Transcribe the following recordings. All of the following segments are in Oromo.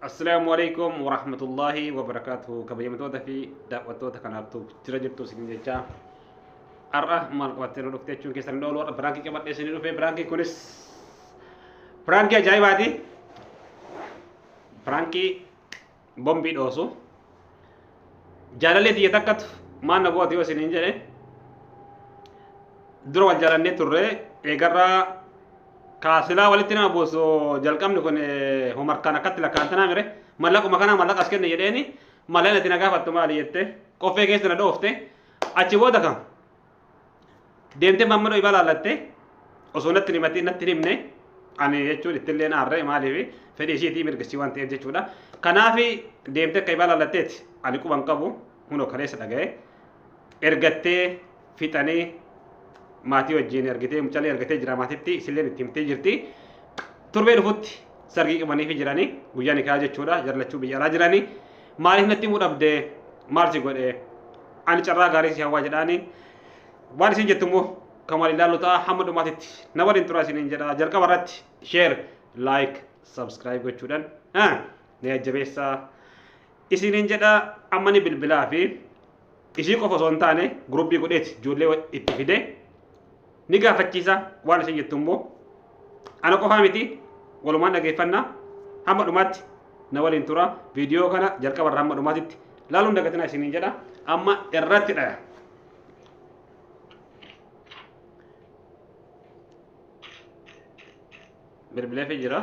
Assalaamu alaikum wa rahmatullahi wa barakaatuhu kabajamtoota fi daawwattoota kanaaf tuuf jira jirtu isin jechaa har'a maal qabattee nu dhufte jechuun keessan dhoolu har'a biraankii qabadhee isin dhufe biraankii kunis biraankii ajaa'ibaati biraankii bombii dhoosu jaalallee tiyya takkatu maal na gooti yoo isiniin jedhe dura wal jaalannee turre eegarraa kaasilaa walitti nama buusu jalqabni kun eh, homarkaan akkatti lakkaantanaa mire mallaquma kanaa mallaqa as kenne jedheeni mallaqni ati na gaafattu maali jette qoffee keessa na dhoofte achi booda kan deemtee maammadoo ibaa laallattee osoo natti himatiin natti himne ani jechuun ittillee naarree maaliif fedhii ishiitii mirgisii waan ta'eef jechuudha. Kanaaf deemtee akka ibaa laallatteeti ani quban qabu hunoo kaleessa dhaga'ee ergattee fixanii maatii wajjin ergitee mucallee ergatee jira maatitti isilleen itti himtee jirti. Turbee dhufutti sargii qabaniifi jiranii guyyaa nikaa jechuudha jarlachuu biyya alaa jiranii. Maaliif natti himuu dhabde? Maal si godhe? Ani carraa gaarii si hawwaa jedhaani. Waan isin jettu immoo kan wal ilaallu ta'a hamma dhumaatitti na waliin tura isiniin jedha. Jalqaba irratti share, like, subscribe gochuudhaan ah, na jajjabeessaa isiniin jedha. Amma ni bilbilaa fi Ishii qofa osoo hin taane guruppii godheeti ijoollee itti fidee ni gaafachiisa waan isheen jettu immoo ana qofaa miti walumaan dhageeffanna hamma dhumaatti na waliin tura viidiyoo kana jalqaba irraa hamma dhumaatitti laaluun dagatina isiniin jedha amma irratti dhaya. Bilbileefi jira.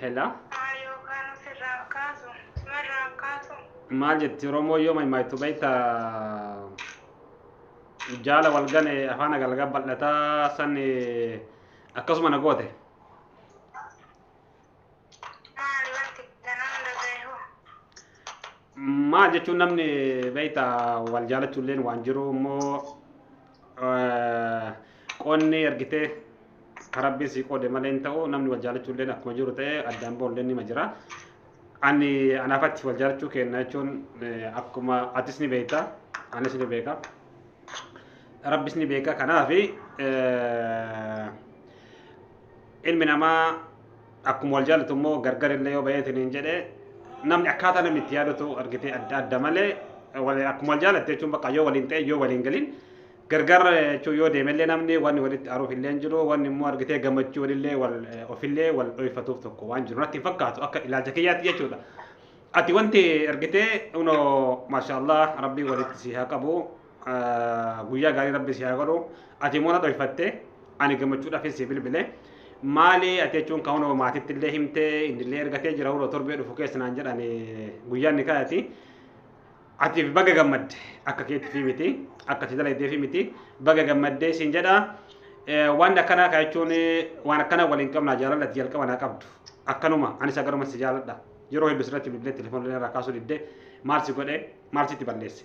Hela. Maa yookaan ofirraan kaasu sumarraan kaasu. Maal jetti Oromoo yoo maaymaaytu beekta jaala wal gane afaan agalgaa bal'ataa san akkasuma na goote. Maal wanti kan hunda beeku? Maal jechuun namni beekta wal jaalachuulleen waan jiru immoo qoonni ergitee rabbiin sii qoode malee hin ta'u namni wal jaalachuulleen akkuma jiru ta'e addaan ba'ulleen nima jira. Ani anaaf ati wal jaalachuu kenna jechuun akkuma atis ni beekta anis ni beeka. Rabbis ni beeka kanaafi Ilmi namaa akkuma wal jaalatu immoo gargar illee yoo ba'ee isiniin jedhe namni akkaataa namni itti yaadatu argitee adda adda malee wal- akkuma wal jaalatte jechuun bakka yoo waliin ta'e yoo waliin galin gargar jechuun yoo deeme illee namni wanni walitti aaruuf illee hin jiru wanni immoo argitee gammachuu walillee wal ofillee wal dhoyfatuuf tokko waan jiru natti hin fakkaatu akka ilaalcha kiyyaatti jechuudha. Ati wanti argitee unoo maashaallah rabbii walitti si haa qabu. guyyaa gaarii rabbi si haa godhu ati immoo na dhoyfatte ani gammachuudhaafis si bilbile maali ati jechuun kan hunoo maatitti illee himte inni illee ergatee jira hunoo torbee dhufu keessa naan jedhan guyyaan ni kaayati atiif baga gammadde akka keettifi miti akka si dalaydeefi miti baga gammadde siin jedha waan akkanaa kaa jechuun waan akkanaa waliin qabnaa jaalala ati jalqaba naa qabdu akkanuma anis akkanuma si jaaladha yeroo hedduu sirratti bilbilee telefoonillee irraa kaasuu didde maal si godhe maal sitti balleesse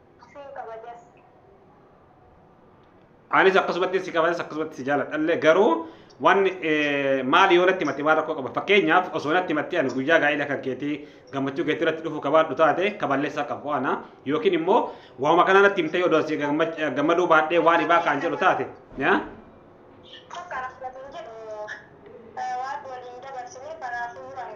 Siin kabajas. Anis akkasumatti si kabajas akkasumatti si jaaladhallee garuu waan eh, maali yoo natti himatte waan rakkoo qaba fakkeenyaaf osoo natti himatte ani guyyaa gaa'ila kan keetii gammachuu keetii irratti dhufu kabaadhu taate kaballeessaa qabu ana yookiin immoo waanuma kanaa natti himtee odoo si gammach- eh, gammaduu baadhee waan ibaa kaan jedhu taate yaa Tokko rakkatu hin jedhu. Waan waliin dabarsine kanaafuu waan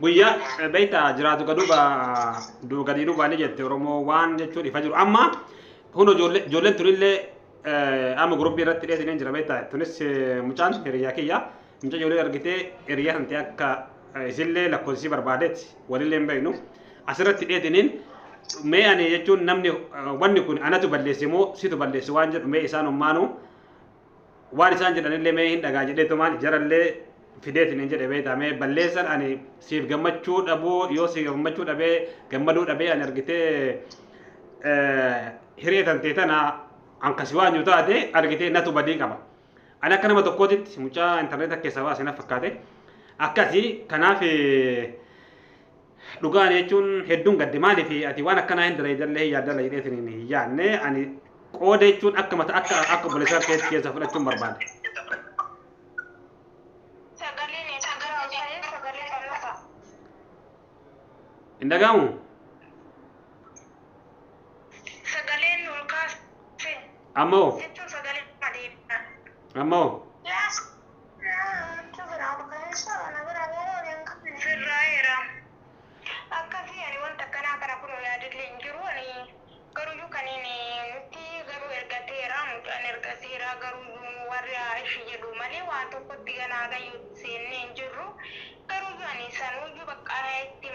guyyaa beekta jiraatu gaduuba duuba gadii duuba ni jette oromoo waan jechuun ifa jiru amma kun ijoollee ijoolleen tunillee amma guruppii irratti dheessineen jira beekta tunis mucaan hiriyaa kiyya muca ijoollee argitee hiriyaa kan ta'e akka isillee lakkoofsisii barbaadeetti walillee hin beeknu asirratti dheessineen mee ani jechuun namni wanni kun anatu balleesse moo situ balleesse waan jedhu mee isaan ummaanuu waan isaan jedhanillee mee hin dhagaa jedhee tumaan jarallee fideetiin hin jedhe beektaa mee balleessan ani siif gammachuu dhabuu yoo siif gammachuu dhabee gammaduu dhabee ani argitee hiree tantee tana ankasi waan yoo taate argitee natu badii qaba. Ani akka nama tokkootitti mucaa intarneeta keessaa baasee na fakkaate akkasi kanaaf Dhugaa ani jechuun hedduun gadde maaliif ati waan akkanaa hin dalaydallee hin yaaddalla jedhee siniin hin yaadne ani qooda jechuun akka mata akka akka obboleessaa keetti keessa fudhachuun barbaade. Sagaleen eessa jira osayee sagalee qanasa. Hin dhaga'amu? Sagaleen ol kaase Amma hoo? jechuun sagalee deebi'an. Amma hoo? Yaa Namicha biraa kaleessa na biraa baala walii hin qabne. Sirraa'eera. Akkasii ani wanta akkanaa kana kunoo yaadillee hin jiru ani garuyyuu kaniin nutti garuu ergateera mucaan ergateera garuyyuu warri haa ishi jedhu malee waan tokkotti ganaa gayyootti seennee hin jirru garuyyuu ani sanuyyuu baqqaa itti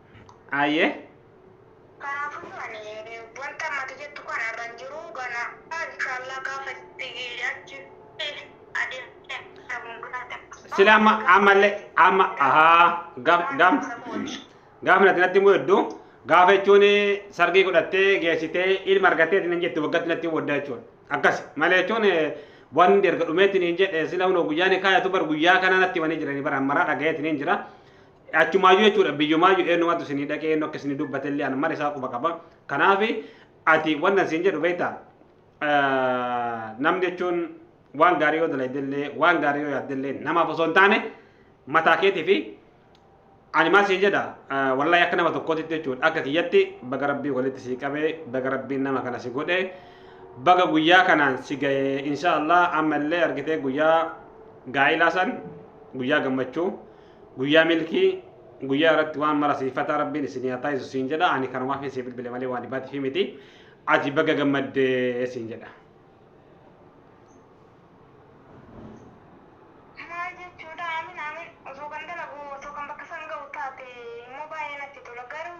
Aye. Kanaafuu ani wanta ammati jettu kana irra hin jiru gana inshallah gaafa itti achi adeemtee dhabuun guddaa Sila amma ammallee amma ahaa gaaf gaaf gaaf natti natti immoo hedduu gaafa jechuun sargii godhattee geessitee ilma argattee hin jettu waggatti natti waddaa jechuudha. Akkas malee jechuun wanti erga dhumeetti hin jedhe sila hunoo guyyaan kaayatu bar guyyaa kana natti wani jirani bara maraa dhagayeetti hin jira. Achumaayyuu jechuudha biyyumaayyuu eenyumatu isinii dhaqee eenyu akka isinii dubbatellee an mara isaa quba qaba. Kanaaf ati wanna isin jedhu beektaa namni jechuun waan gaarii yoo dalaydellee waan gaarii yoo yaaddellee namaaf osoo hin taane mataa keetii fi ani maal siin jedha wallahi akka nama tokkootti jechuudha akka kiyyatti baga rabbii walitti sii qabee baga rabbiin nama kana si godhe baga guyyaa kanaan si ga'e insha Allah amma illee argitee guyyaa gaa'ilaa san guyyaa gammachuu Guyyaa milkii guyyaa irratti waan mara siif fataa rabbiin isin yaa taasisu siin jedha ani kanumaaf siif bilbile malee waan dhibaatiif miti ati baga gammaddee siin jedha. Maal jechuudha amin amin osoo kan dalagu osoo kan bakka san ga'u taate immoo baay'ee natti tola garuu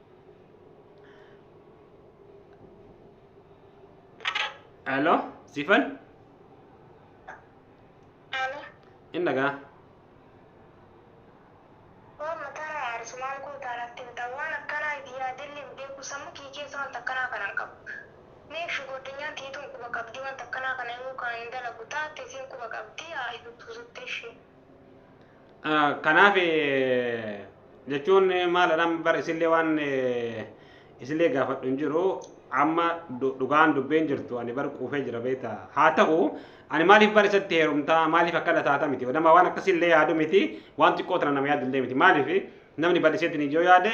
Hello, Sifan? Alo, Hin dhagaa? waan mataa na haarsu maal gootaa natti himta? Waan akkanaa itti yaadillee hin beeku. Sammuu kiyya keessa wanta akkanaa kana hin qabu. Meekshu goddanyaan tiyya tun quba qabdii wanta akkanaa kana himuu kana hin dalagu taate isiin quba qabdii haa himtu suttee ishee. Kanaaf jechuun maalidha bar isillee waan isillee gaafadhu hin jiru amma dhugaan dubbeen jirtu ani bar quufee jira beekta haa ta'u ani maaliif bar isatti heerumtaa maaliif akkana taata miti nama waan akkasillee yaadu miti waan xiqqoo tana nama yaadullee miti maaliif namni bal'iseetti ni yoo yaade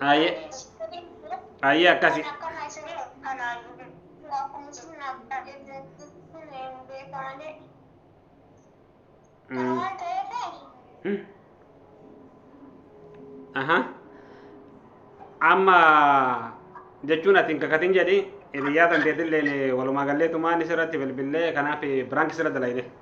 Aye. Aye akkasi. Mm. Mm. Aha. Amma jechuun ati hin kakatin jedhi hiriyaa tanteetillee walumaa gallee tumaan isirratti bilbillee kanaaf biraanki sirra dalayne.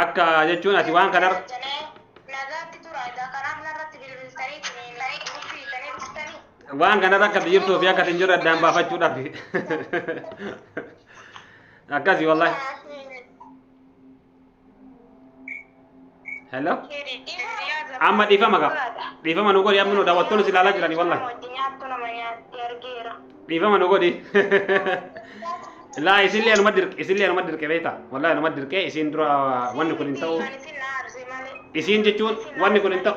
akka jechuun ati waan kanarra waan kanarra akka jirtuu fi akka hin jirre addaan baafachuudhaaf akkasi wallahi hello amma dhiifama qaba dhiifama nu godhi amma nu daawwattoonni si ilaalaa jiranii wallahi dhiifama nu godhi laa isillee anuma dirqe isillee anuma dirqe beekta wallahi anuma dirqe isiin dura wanni kun hin ta'u isiin jechuun wanni kun hin ta'u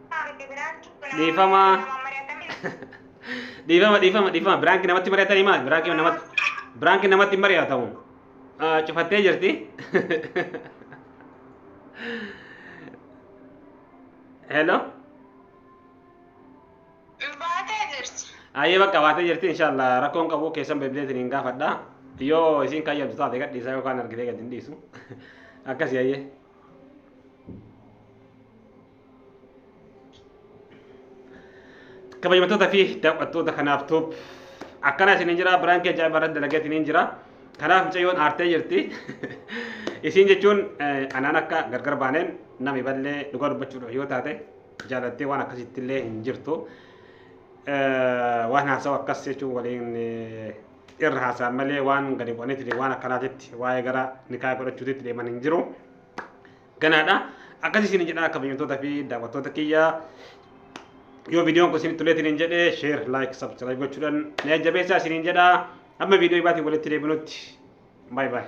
Dhiifama. Dhiifama dhiifama dhiifama biraanki namatti mari'atanii maal biraanki namatti biraanki namatti hin mari'atamu. Ah, Cufattee jirti. Hello. Baatee jirti. Ayyee bakka baatee jirti inshaallah rakkoon qabu keessan beebileetiin hin gaafadha. Yoo isiin kayyabdu taate gadhiisaa yookaan argitee gad hin dhiisu. Akkasii ayyee. kabajamtoota fi daawwattoota kanaaf tuub akkana isin hin jira biraan kee jaa'ibaa irratti dalagaa isin hin jira kanaaf mucayyoon aartee jirti isin jechuun anaan akka gargar baaneen nami ballee dhugaa dubbachuudhaaf yoo taate jaalattee waan akkasitti illee hin jirtu waan haasawu akkas jechuun waliin irra haasa'an malee waan gadi bu'anitti waan akkanaatitti waa'ee gara nikaa godhachuutitti deeman hin jiru. ganaadha. Akkas isin jedhaa kabajamtoota fi daawwattoota kiyya yoo viidiyoon kun isinitti toleetiin hin jedhe sheer laayik sabskiraayib gochuudhaan na jajjabeessaa isiniin jedhaa amma viidiyoo ibaatiin walitti deebinutti baay baay.